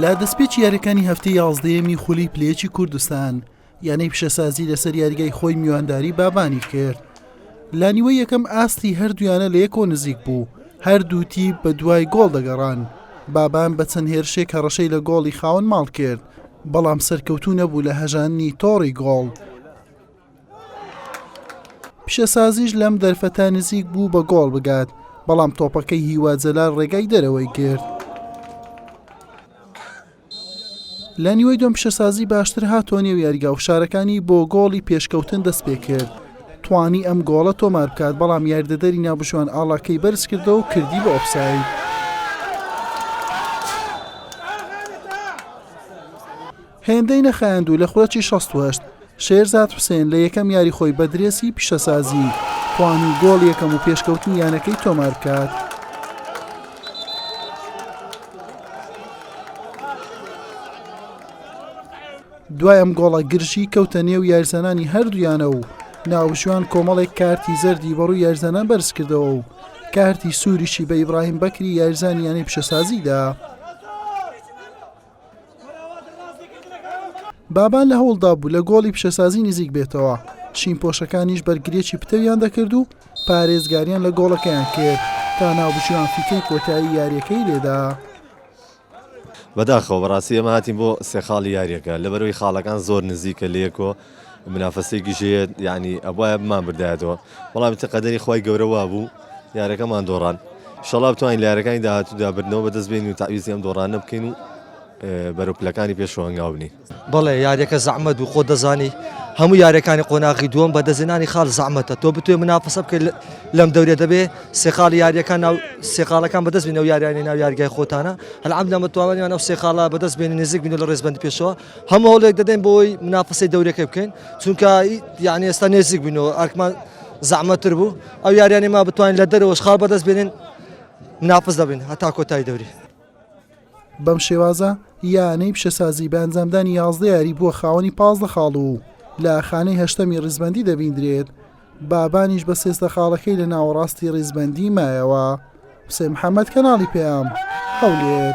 لە دەستپێکی یاریەکانی هەفتی یازدەیەمی خولی پلێکی کوردستان یانەی پیشەسازی لەسەر یاریگای خۆی میوانداری بابانی کرد لە نیوە یەکەم ئاستی هەردویانە لە یەکۆ نزیک بوو هەردوو تی بە دوای گۆڵ دەگەڕان بابان بە چەند هێرشێک هەڕەشەی لە گۆڵی خاون ماڵ کرد بەڵام سەرکەوتو نەبوو لە هەژاننی تۆڕی گۆڵ پیشەسازیش لەم دەرفەتە نزیک بوو بە گۆڵ بگات بەڵام تۆپەکەی هیوا جەلال ڕێگای دەرەوەی کرد لە نیوەی دۆم پیشەسازی باشتر هاتۆ نێو یاریگا و فشارەکانی بۆ گۆڵی پێشکەوتن دەست پێ کرد توانی ئەم گۆڵە تۆمار بکات بەڵام یاردەدەری ناوبژوان ئاڵاکەی بەرز کردەوە و کردی بە ئۆفساید هێندەی نەخایاندوو لە خولەکی شەست و هەشت شێرزاد حوسێن لە یەکەم یاری خۆی بە درێسی پیشەسازی توانی گۆڵی یەکەم و پێشکەوتنی یانەکەی تۆمار بکات. دوای ئەم گۆڵە گرژی کەوتە نێو یارزانانی هەردوو یانە و ناوشوان کۆمەڵێک کارتی زەردی بەڕووی یارزانان بەرزکردەوە و کارتی سووریشی بە ئیبراهیم بەکری یارزانی یانەی پیشەسازیدا. بابان لە هەوڵدا بوو لە گۆڵی پیشەسازی نزیک بێتەوە چین پۆشەکانیش بەرگریەکی پتەویان دەکرد و پارێزگاریان لە گۆڵەکەیان کرد تا ناوبژیوان فیکەی کۆتایی یاریەکەی لێدا. بەداخەوە بەڕاستی ئێمە هاتین بۆ سێ خاڵی یاریەکە لەبەرەوەی خاڵەکان زۆر نزیکە لەیەکۆ منافەسەیەکیش هەیە یعنی ئەبوایە بمانبردایەتەوە بەڵام ئیتر قەدەری خوای گەورە وابوو یارەکەمان دۆڕان شەڵا بتوانین لە یارەکانی داهاتوودا بردنەوە بەدەست بێنین و تاویزی ئەم دۆڕانە بکەین و بەرەو پلەکانی پێشەوە هەنگاو بنین بەڵێ یاریەکە زەحمەت بوو خۆت دەزانی هەموو یاریەکانی قۆناغی دووەم بە دەستێنانی خاڵ زەحمەتە تۆ بتوێ منافەسە بکەیت لەم دەورێ دەبێ سێخاڵی یاریەکان ناو سێخاڵەکان بەدەست بینەوە یاریانی ناو یارگای خۆتانە هەلعەمدە متوانیان ئەو سێخاڵە بەدەست بێنی نزیک بین لە ڕێزبەندی پێشەوە هەموو هەوڵێک دەدەین بۆی منافەسەی دەورەکە بکەین چونکە یعنی ئێستا نێزیک بووینەوە ئەرکمان زەحمەتر بوو ئەو یاریانی ما بتوانین لە دەرەوەش خاڵ بەدەست بێنین منافس دەبین هەتا کۆتای دەوری بەم شێوازە یانەی پیشەسازی بە ئەنجامدانی یازدە یاری بووە خاوەنی پازدە خاڵ و لە خانەی هەشتەمی ڕیزبندی دەبیندرێت بابانیش بە سێزدە خاڵەکەی لە ناوەڕاستی ڕیزبندی مایەوە حسێن محەممەد کەناڵی پێیان هەولێر.